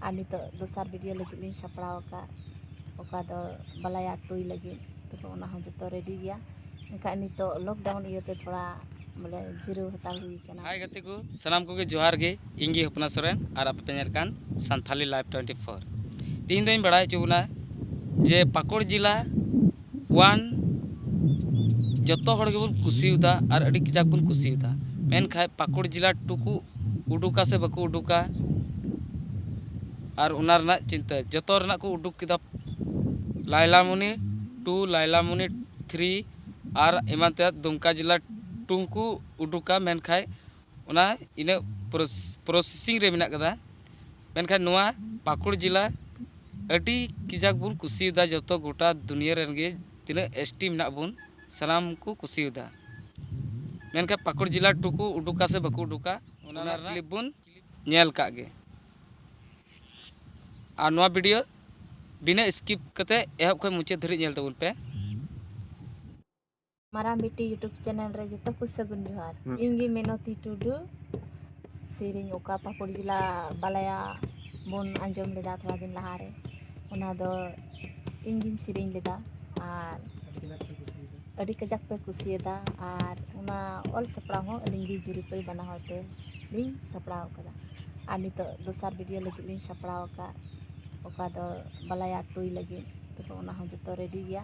ᱟᱨ ᱱᱤᱛᱚᱜ ᱫᱚᱥᱟᱨ ᱵᱷᱤᱰᱤᱭᱳ ᱞᱟᱹᱜᱤᱫ ᱞᱤᱧ ᱥᱟᱯᱲᱟᱣ ᱟᱠᱟᱫ ᱚᱠᱟ ᱫᱚ ᱵᱟᱞᱟᱭᱟ ᱴᱩᱭ ᱞᱟᱹᱜᱤᱫ ᱛᱚᱵᱮ ᱚᱱᱟ ᱦᱚᱸ ᱡᱚᱛᱚ ᱨᱮᱰᱤ ᱜᱮᱭᱟ ᱮᱱᱠᱷᱟᱱ ᱱᱤᱛᱚᱜ ᱞᱚᱠᱰᱟᱣᱩᱱ ᱤᱭᱟᱹᱛᱮ ᱛᱷᱚᱲᱟ ᱵᱚᱞᱮ ᱡᱤᱨᱟᱹᱣ ᱦᱟᱛᱟᱲ ᱦᱩᱭ ᱠᱟᱱᱟ ᱦᱟᱭ ᱜᱟᱛᱮ ᱠᱚ ᱥᱟᱱᱟᱢ ᱠᱚᱜᱮ ᱡᱚᱦᱟᱨ ᱜᱮ ᱤᱧ ᱜᱮ ᱦᱚᱯᱱᱟ ᱥᱚᱨᱮᱱ ᱟᱨ ᱟᱯᱮ ᱯᱮ ᱧᱮᱞ ᱠᱟᱱ ᱥᱟᱱᱛᱷᱟᱞᱤ ᱞᱟᱭᱤᱵᱷ ᱴᱩᱭᱮᱱᱴᱤ ᱯᱷᱳᱨ ᱛᱮᱦᱮᱧ ᱫᱚᱧ ᱵᱟᱲᱟᱭ ᱦᱚᱪᱚ ᱵᱚᱱᱟ ᱡᱮ ᱯᱟᱹᱠᱩᱲ ᱡᱮᱞᱟ ᱚᱣᱟᱱ ᱡᱚᱛᱚ ᱦᱚᱲ ᱜᱮᱵᱚᱱ ᱠᱩᱥᱤᱭᱟᱫᱟ ᱟᱨ ᱟᱹᱰᱤ ᱠᱟᱡᱟᱠ ᱵᱚᱱ ᱠᱩᱥᱤᱭᱟᱫᱟ ᱢᱮᱱᱠᱷᱟᱱ ᱯᱟᱹᱠᱩᱲ ᱡᱮᱞᱟ ᱴᱩ ᱠᱚ ᱩᱰᱩᱠᱟ ᱥᱮ ᱵᱟᱠᱚ ᱩᱰᱩᱠᱟ ᱟᱨ ᱚᱱᱟ ᱨᱮᱱᱟᱜ ᱪᱤᱱᱛᱟᱹ ᱡᱚᱛᱚ ᱨᱮᱱᱟᱜ ᱠᱚ ᱩᱰᱩᱠ ᱠᱮᱫᱟ ᱞᱟᱭᱞᱟᱢᱚᱱᱤ ᱴᱩ ᱞᱟᱭᱞᱟᱢᱚᱱᱤ ᱛᱷᱨᱤ ᱟᱨ ᱮᱢᱟᱱ ᱛᱮᱭᱟᱜ ᱫᱩᱢᱠᱟ ᱡᱮᱞᱟ ᱴᱩ ᱦᱚᱸᱠᱚ ᱩᱰᱩᱠᱟ ᱢᱮᱱᱠᱷᱟᱱ ᱚᱱᱟ ᱤᱱᱟᱹᱜ ᱯᱨᱚᱥᱮᱥᱤᱝ ᱨᱮ ᱢᱮᱱᱟᱜ ᱟᱠᱟᱫᱟ ᱢᱮᱱᱠᱷᱟᱱ ᱱᱚᱣᱟ ᱯᱟᱹᱠᱩᱲ ᱡᱮᱞᱟ ᱟᱹᱰᱤ ᱠᱟᱡᱟᱠ ᱵᱚᱱ ᱠᱩᱥᱤᱭᱟᱫᱟ ᱡᱚᱛᱚ ᱜᱚᱴᱟ ᱫᱩᱱᱤᱭᱟᱹ ᱨᱮᱱ ᱜᱮ ᱛᱤᱱᱟᱹᱜ ᱮᱥ ᱴᱤ ᱢᱮᱱᱟᱜ ᱵᱚᱱ ᱥᱟᱱᱟᱢ ᱠᱚ ᱠᱩᱥᱤᱭᱟᱫᱟ ᱢᱮᱱᱠᱷᱟᱱ ᱯᱟᱹᱠᱩᱲ ᱡᱮᱞᱟ ᱴᱩ ᱠᱚ ᱩᱰᱩᱠᱟ ᱥᱮ ᱵᱟᱠᱚ ᱩᱰᱩᱠᱟ ᱚᱱᱟ ᱨᱮᱱᱟᱜ ᱠᱞᱤᱯ ᱵᱚᱱ ᱧᱮᱞ ᱠᱟᱜ ᱜᱮ ᱟᱨ ᱱᱚᱣᱟ ᱵᱷᱤᱰᱤᱭᱳ ᱵᱤᱱᱟᱹ ᱥᱠᱤᱯ ᱠᱟᱛᱮ ᱮᱦᱚᱵ ᱠᱷᱚᱱ ᱢᱩᱪᱟᱹᱫ ᱫᱷᱟᱹᱨᱤᱡ ᱧᱮᱞ ᱛᱟᱵᱚᱱ ᱯᱮ ᱢᱟᱨᱟᱝ ᱵᱤᱴᱤ ᱭᱩᱴᱩᱵᱽ ᱪᱮᱱᱮᱞ ᱨᱮ ᱡᱚᱛᱚ ᱠᱚ ᱥᱟᱹᱜᱩᱱ ᱡᱚᱦᱟᱨ ᱦᱩᱸ ᱤᱧ ᱜᱮ ᱢᱤᱱᱚᱛᱤ ᱴᱩᱰᱩ ᱥᱮᱨᱮᱧ ᱚᱠᱟ ᱯᱟᱹᱠᱩᱲ ᱡᱮᱞᱟ ᱵᱟᱞᱟᱭᱟ ᱵᱚᱱ ᱟᱸᱡᱚᱢ ᱞᱮᱫᱟ ᱛᱷᱚᱲᱟ ᱫᱤᱱ ᱞᱟᱦᱟ ᱨᱮ ᱚᱱᱟ ᱫᱚ ᱤᱧ ᱜᱤᱧ ᱥᱮᱨᱮᱧ ᱞᱮᱫᱟ ᱟᱨ ᱟᱹᱰᱤ ᱠᱟᱡᱟᱠ ᱯᱮ ᱠᱩᱥᱤᱭᱟᱫᱟ ᱟᱨ ᱚᱱᱟ ᱚᱞ ᱥᱟᱯᱲᱟᱣ ᱦᱚᱸ ᱟᱹᱞᱤᱧ ᱜᱮ ᱡᱩᱨᱤ ᱯᱟᱹᱨᱤ ᱵᱟᱱᱟ ᱦᱚᱲ ᱛᱮ ᱞᱤᱧ ᱥᱟᱯᱲᱟᱣ ᱟᱠᱟᱫᱟ ᱟᱨ ᱱᱤᱛᱚᱜ ᱫᱚᱥᱟᱨ ᱵᱷᱤᱰᱤᱭᱳ ᱞᱟᱹᱜᱤᱫ ᱞᱤᱧ ᱥᱟᱯᱲᱟᱣ ᱟᱠᱟᱫ ᱚᱠᱟ ᱫᱚ ᱵᱟᱞᱟᱭᱟ ᱴᱩᱭ ᱞᱟᱹᱜᱤᱫ ᱛᱚᱵᱮ ᱚᱱᱟ ᱦᱚᱸ ᱡᱚᱛᱚ ᱨᱮᱰᱤ ᱜᱮᱭᱟ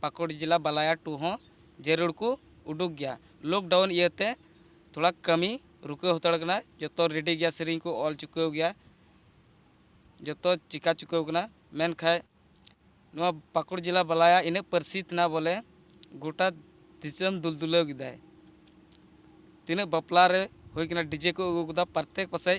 ᱯᱟᱠᱩᱲ ᱡᱮᱞᱟ ᱵᱟᱞᱟᱭᱟ ᱴᱩ ᱦᱚᱸ ᱡᱟᱹᱨᱩᱲ ᱠᱚ ᱩᱰᱩᱠ ᱜᱮᱭᱟ ᱞᱚᱠᱰᱟᱣᱩᱱ ᱤᱭᱟᱹ ᱛᱮ ᱛᱷᱚᱲᱟ ᱠᱟᱹᱢᱤ ᱨᱩᱠᱟᱹᱣ ᱦᱟᱛᱟᱲ ᱠᱟᱱᱟ ᱡᱚᱛᱚ ᱨᱮᱰᱤ ᱜᱮᱭᱟ ᱥᱮᱨᱮᱧ ᱠᱚ ᱚᱞ ᱪᱩᱠᱟᱹᱣ ᱜᱮᱭᱟ ᱡᱚᱛᱚ ᱪᱤᱠᱟᱹ ᱪᱩᱠᱟᱹᱣ ᱠᱟᱱᱟ ᱢᱮᱱᱠᱷᱟᱱ ᱱᱚᱣᱟ ᱯᱟᱠᱩᱲ ᱡᱮᱞᱟ ᱵᱟᱞᱟᱭᱟ ᱤᱱᱟᱹᱜ ᱯᱟᱹᱨᱥᱤᱛ ᱮᱱᱟ ᱵᱚᱞᱮ ᱜᱚᱴᱟ ᱫᱤᱥᱚᱢ ᱫᱩᱞ ᱫᱩᱞᱟᱹᱣ ᱠᱮᱫᱟᱭ ᱛᱤᱱᱟᱹᱜ ᱵᱟᱯᱞᱟ ᱨᱮ ᱦᱩᱭ ᱠᱟᱱᱟ ᱰᱤᱡᱮ ᱠᱚ ᱟᱹᱜᱩ ᱠᱮᱫᱟ ᱯᱨᱚᱛᱮᱠ ᱯᱟᱥᱮᱡ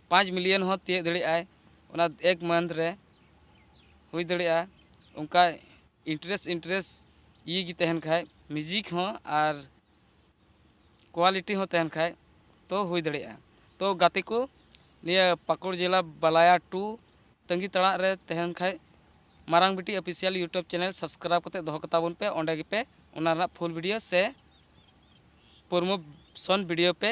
ᱯᱟᱸᱪ ᱢᱤᱞᱤᱭᱚᱱ ᱦᱚᱸ ᱛᱤᱭᱟᱹᱜ ᱫᱟᱲᱮᱭᱟᱜ ᱟᱭ ᱚᱱᱟ ᱮᱠ ᱢᱟᱱᱛᱷ ᱨᱮ ᱦᱩᱭ ᱫᱟᱲᱮᱭᱟᱜᱼᱟ ᱚᱱᱠᱟ ᱤᱱᱴᱟᱨᱮᱥᱴ ᱤᱱᱴᱟᱨᱮᱥᱴ ᱤᱭᱟᱹ ᱜᱮ ᱛᱟᱦᱮᱱ ᱠᱷᱟᱱ ᱢᱤᱭᱩᱡᱤᱠ ᱦᱚᱸ ᱟᱨ ᱠᱳᱣᱟᱞᱤᱴᱤ ᱦᱚᱸ ᱛᱟᱦᱮᱱ ᱠᱷᱟᱱ ᱛᱚ ᱦᱩᱭ ᱫᱟᱲᱮᱭᱟᱜᱼᱟ ᱛᱚ ᱜᱟᱛᱮ ᱠᱚ ᱱᱤᱭᱟᱹ ᱯᱟᱹᱠᱩᱲ ᱡᱮᱞᱟ ᱵᱟᱞᱟᱭᱟ ᱴᱩ ᱛᱟᱺᱜᱤ ᱛᱟᱲᱟᱜ ᱨᱮ ᱛᱟᱦᱮᱱ ᱠᱷᱟᱱ ᱢᱟᱨᱟᱝ ᱵᱤᱴᱤ ᱚᱯᱷᱤᱥᱤᱭᱟᱞ ᱤᱭᱩᱴᱩᱵᱽ ᱪᱮᱱᱮᱞ ᱥᱟᱵᱥᱠᱨᱟᱭᱤᱵᱽ ᱠᱟᱛᱮᱫ ᱫᱚᱦᱚ ᱠᱟᱛᱟ ᱵᱚᱱ ᱯᱮ ᱚᱸᱰᱮ ᱜᱮᱯᱮ ᱚᱱᱟ ᱨᱮᱱᱟᱜ ᱯᱷᱩᱞ ᱵᱷᱤᱰᱤᱭᱳ ᱥᱮ ᱯᱨᱳᱢᱳᱥᱚᱱ ᱵᱷᱤᱰᱤᱭᱳ ᱯᱮ